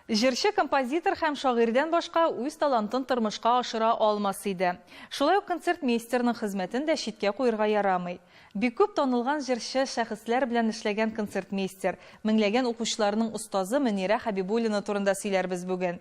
Җырчы, композитор һәм шагыйрьдән башка үз талантын тормышка ашыра алмас иде. Шулай ук концертмейстерның хезмәтен дә читкә куерга ярамый. Бик күп танылган җырчы, шәхесләр белән эшләгән концертмейстер, меңләгән укучыларның остазы Мөнирә Хәбибуллина турында сөйләрбез бүген.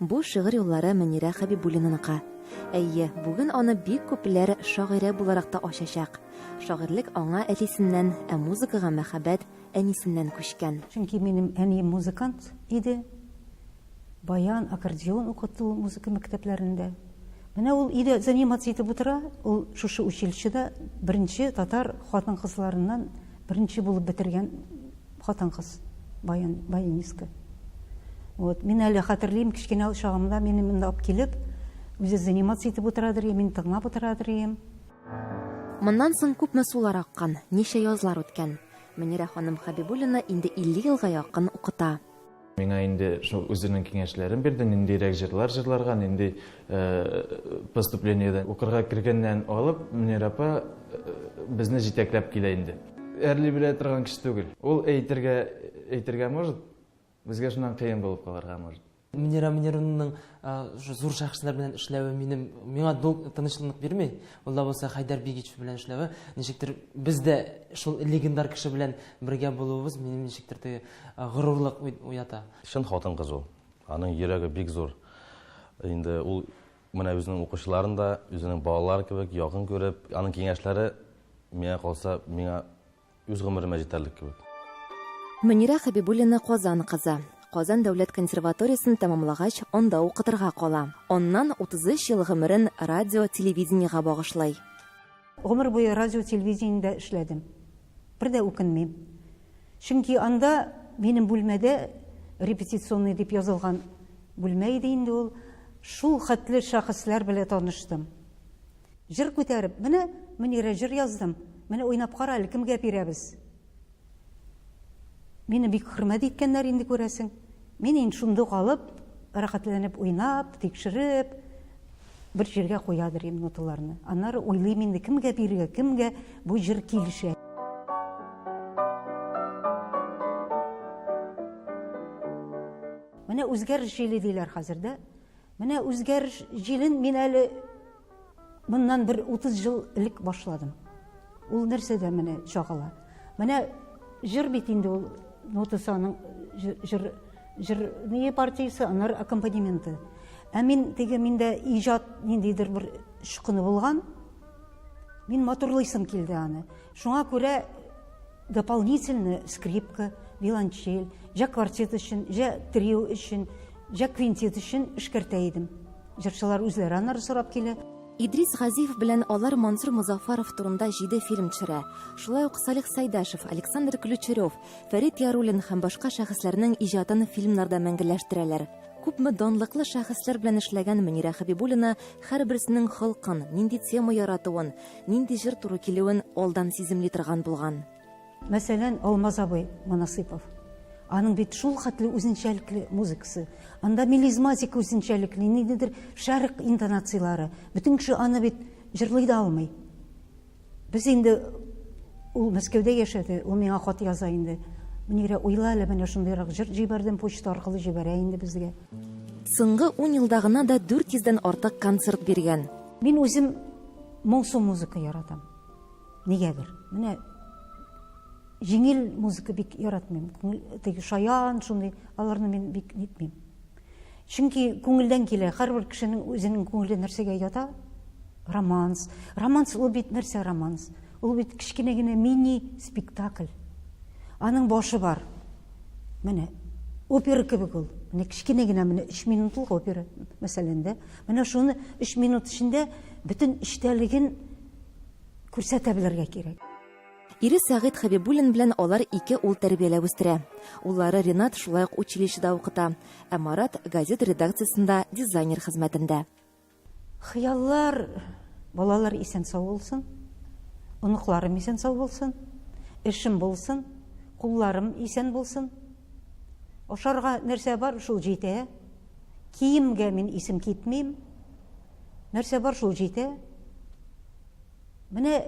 Бу шигырь юллары Мөнирә Хәбибуллинаныкы. Әйе, бүген аны бик күпләр шагыйрә буларак та ачачак. Шагыйрьлек аңа әтисеннән, ә музыкага мәхәббәт әнисеннән күчкән. Чөнки минем әнием музыкант иде. Баян, аккордеон укыту музыка мәктәпләрендә. Менә ул өйдә заниматься итеп утыра, ул шушы училищеда беренче татар хатын-кызларыннан беренче булып бетергән. Хатын-кыз баян, баянистка. Вот, мин әле хәтерлим, кечкенә чагымда мине монда алып килеп, үзе заниматься итеп утырадыр, мин тыңлап утырадыр идем. Моннан соң күпме сулар аккан, ничә язлар үткән. Мөнирә ханым Хәбибуллина инде 50 елга якын укыта. Миңа инде шул үзенең киңәшләрен бирде, ниндирәк җырлар җырларга, нинди поступлениедән укырга кергәннән алып, Мөнир апа безне җитәкләп килә инде. Әрли белә торган кеше түгел. Ул әйтергә, әйтергә может, безгә шуннан кыен булып калырга может. Мөнирә Мөнированың зур шәхесләр белән эшләве минем, миңа тынычлык бирми. Ул да булса Хәйдәр Бигич белән эшләве, ничектер без дә шул легендар кеше белән бергә булуыбыз минем ничектер теге Горурлык уята. Чын хатын-кыз ул. Аның йөрәге бик зур. Инде ул менә үзенең укучыларын да үзенең балалары кебек якын күреп, аның киңәшләре миңа калса, миңа үз гомеремә җитәрлек кебек. Мөнирә Хәбибуллина Казан кызы. Казан дәүләт консерваториясен тәмамлагач, анда укытырга кала. Аннан 33 ел гомерен радио, телевидениегә багышлый. Гомер буе радио-телевидениедә эшләдем. Бер дә үкенмим. Чөнки анда, минем бүлмәдә, репетиционный дип язылган бүлмә иде инде ул, шул хәтле шәхесләр белә таныштым. Җыр күтәреп, менә, Мөнирә, җыр яздым, менә уйнап кара әле, кемгә бирәбез? Мине бик хөрмәт иткәннәр инде, күрәсең. Мин инде шундук алып, рәхәтләнеп уйнап, тикшереп, бер җиргә куядыр идем ноталарны. Аннары уйлыйм инде, кемгә бирергә, кемгә бу җыр килешә. Менә үзгәреш җиле диләр хәзер дә. Менә үзгәреш җилен мин әле моннан бер 30 ел элек башладым. Ул нәрсәдә менә чагыла. Менә җыр бит инде ул нотасының җыр җыр не партиясе, аннары аккомпанементы. Ә мин теге миндә иҗат ниндидер бер шыкыны булган. Мин матурлыйсым килде аны. Шуңа күрә Дополнительно скрипка, виолончель, җә квартет өчен, җә трио өчен, җә квинтет өчен эшкәртә идем. Җырчылар үзләре аннары сорап килә. Идрис Газиев белән алар Мансур Мозаффаров турында җиде фильм төшерә. Шулай ук Салих Сәйдәшев, Александр Ключерев, Фәрит Яруллин һәм башка шәхесләрнең иҗатын фильмнарда мәңгеләштерәләр. Күпме данлыклы шәхесләр белән эшләгән Мөнирә Хәбибуллина һәрберсенең холкын, нинди тема яратуын, Нинди җыр туры килүен алдан сиземли торган булган. Мәсәлән, Алмаз абый Монасыйпов. Аның бит шулхәтле үзенчәлекле музыкасы. Анда мелизматик үзенчәлекле, ниндидер шәрык интонацияләре. Бөтен кеше аны бит җырлый да алмый. Без инде ул Мәскәүдә яшәде, ул миңа хат яза инде. Мөнирә, уйла әле, менә шундыйрак җыр җибәрдем, почта аркылы җибәрә инде безгә. Соңгы ун елда гына да 400 дән артык концерт биргән. Мин үзем моңсу музыка яратам. Нигәдер. Менә җиңел музыка бик яратмыйм. Теге шаян, шундый, аларны мин бик нитмим. Чөнки күңелдән килә, һәрбер кешенең үзенең күңеле нәрсәгә ята? Романс. Романс ул бит нәрсә романс? Ул бит кечкенә генә мини спектакль. Аның башы бар. Менә опера кебек ул. Менә кечкенә генә менә 3 минутлык опера, мәсәлән, дә. Менә шуны өч минут эчендә бөтен эчтәлеген күрсәтә белергә кирәк. Ире Сәгыйть Хәбибуллин белән алар ике ул тәрбияләп үстерә. Уллары Ринат шулай ук училищеда укыта, ә Марат, газета редакциясендә дизайнер хезмәтендә. Хыяллар, балалар исән-сау булсын, оныкларым исән-сау булсын, эшем булсын, кулларым исән булсын. Ашарга нәрсә бар, шул җитә. Киемгә мин исем китмим. Нәрсә бар шул җитә. Менә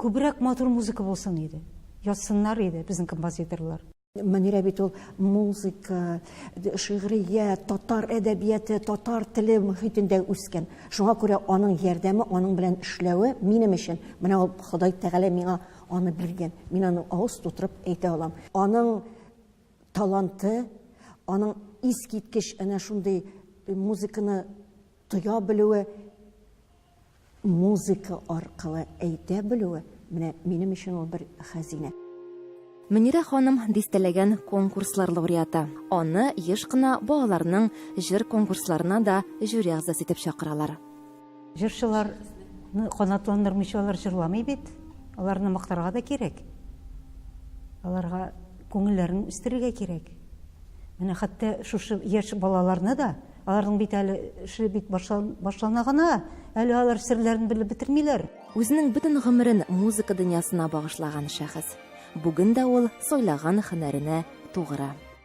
күбрәк матур музыка булсын иде. Язсыннар иде безнең композиторлар. Мөнирә бит ул музыка, шигърият, татар әдәбияты, татар теле мөхитендә үскән. Шуңа күрә аның ярдәме, аның белән эшләве минем өчен, менә ул Ходай Тәгалә миңа аны биргән. Мин аның авыз тутырып әйтә алам. Аның таланты, аның искиткеч әнә шундый музыканы тоя белүе, музыка аркылы әйтә белүе, менә минем өчен ул бер хәзинә. Мөнирә ханым дистәләгән конкурслар лауреаты. Аны еш кына балаларның җыр конкурсларына да җюри әгъзасы итеп чакыралар. Җырчыларны канатландырмыйча алар җырламый бит. Аларны мактарга да кирәк. Аларга күңелләрен үстерергә кирәк. Менә хәтта шушы яшь балаларны да, аларның бит әле эше бит башлана гына, әле алар серләрен белеп бетермиләр. Үзенең бөтен гомерен музыка дөньясына багышлаган шәхес. Бүген дә ул сайлаган һөнәренә тугры.